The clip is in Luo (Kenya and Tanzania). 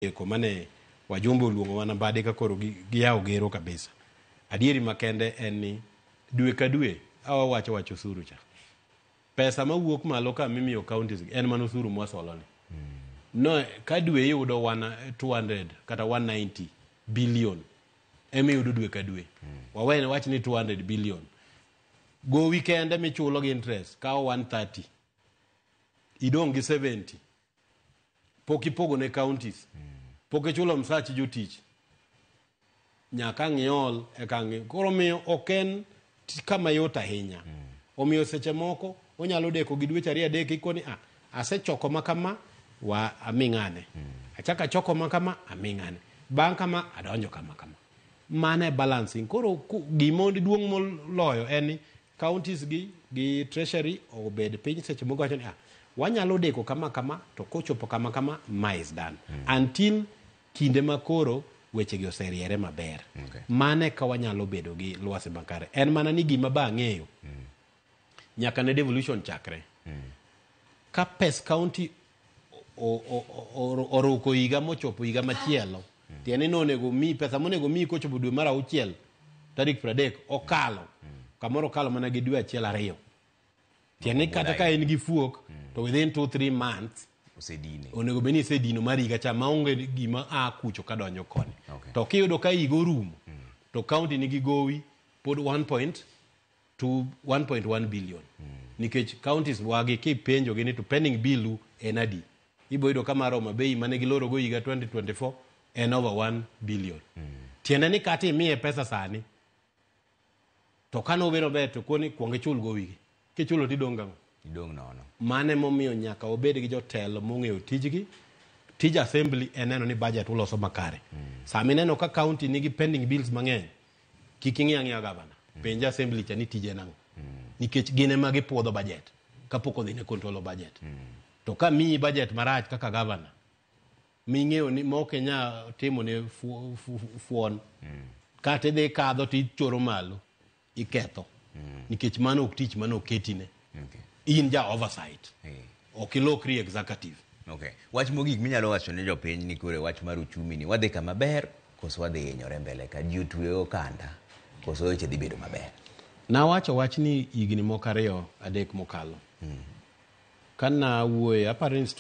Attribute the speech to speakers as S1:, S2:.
S1: eko mane wajumbe oluongo wana bade ka koro giyawo gero kabisa. Adieri makende en ni dwe ka dwe awa wacho wacho suru cha. Pesa ma wuok malo ka mimiyo counties en mana osuru mwasolo ni. No, ka dwe iyudo 200 kata 190 billion emi yudo dwe ka dwe. Wawene wach ni 200 billion. Go weekend emi chulo gi interest kawo 130. Idong gi 70. pok ipogo ne counties pok ichulo msach jotich nyaka ang' iol eka ang' i- koro miyo ok en ti- kama yot ahinya omiyo seche moko onyalo deko gi dweche ariyo adek ikoni ah, asechoko ma kama wa aming'ane achako achoko ma kama aming'ane bang' kama adonjo kama kama mano e balancing koro ku- gima duong' moloyo en ni counties gi gi treasury obed piny seche moko wacho ni ah, wanyalo deko kama kama to kochopo kama kama ma is done until kinde ma koro wechegi oseriere maber Okay. mane ka wanyalo bedo gi lwasi makare en mana ni gima ba ang'eyo nyaka ne devolution chakre ka pes county oruko higa mochopo higa machielo tiende ni onego mi pesa monego mi kochopo dwe mar auchiel tarik pradek okalo kamoro okalo mana gi dwe achiel ariyo tiende ni kata ka en gi fuok to within two three months osedine onego bed ni isedino mar higa cha maonge gima a kucho ka donjo koni okay. to kiyudo ka higa orumo mm. to kaunti nigi gowi pod 1.5 to 1.1 billion nikech counties wagi kipenjogi ni to pending bill u en adi ibo yudo ka mar Homa Bay mane gilorogo higa 2024 en over 1 billion tiende ni kata imiye pesa sani to kane obiro ber to koni kuong ichul go wigi kichulo tidong' gang'o idong' nono mano emomiyo nyaka wabed gi jotelo mong'eyo tijgi tij assembly en neno ni budget uloso makare sama ineno ka county nigi pending bills mang'eny Kik ing'i ang'iya gavana. Penja assembly cha ni tije en ang'o. Nikech gin ema gipuodho budget kapok odhi ne control of budget. To ka miyi budget marach kaka gavana ming'eyo ni mok inya timo ne fu- fu- fu- fuon kata idhi kadho to ichoro malo iketho nikech mano ok tich mane oketine. Okay. In ja oversight. Hey. Eh. Ok ilokri executive. Okay. Wach mogik
S2: minyalo wacho ne jopiny ni kore wach mar uchumi ni wadhi kama ber koso wadhi hinyore mbele ka ji otwe okanda koso weche dhi bedo maber. Nawacho wach
S1: ni higni moko ariyo adek mokalo. Mm. Kana wuoye aparo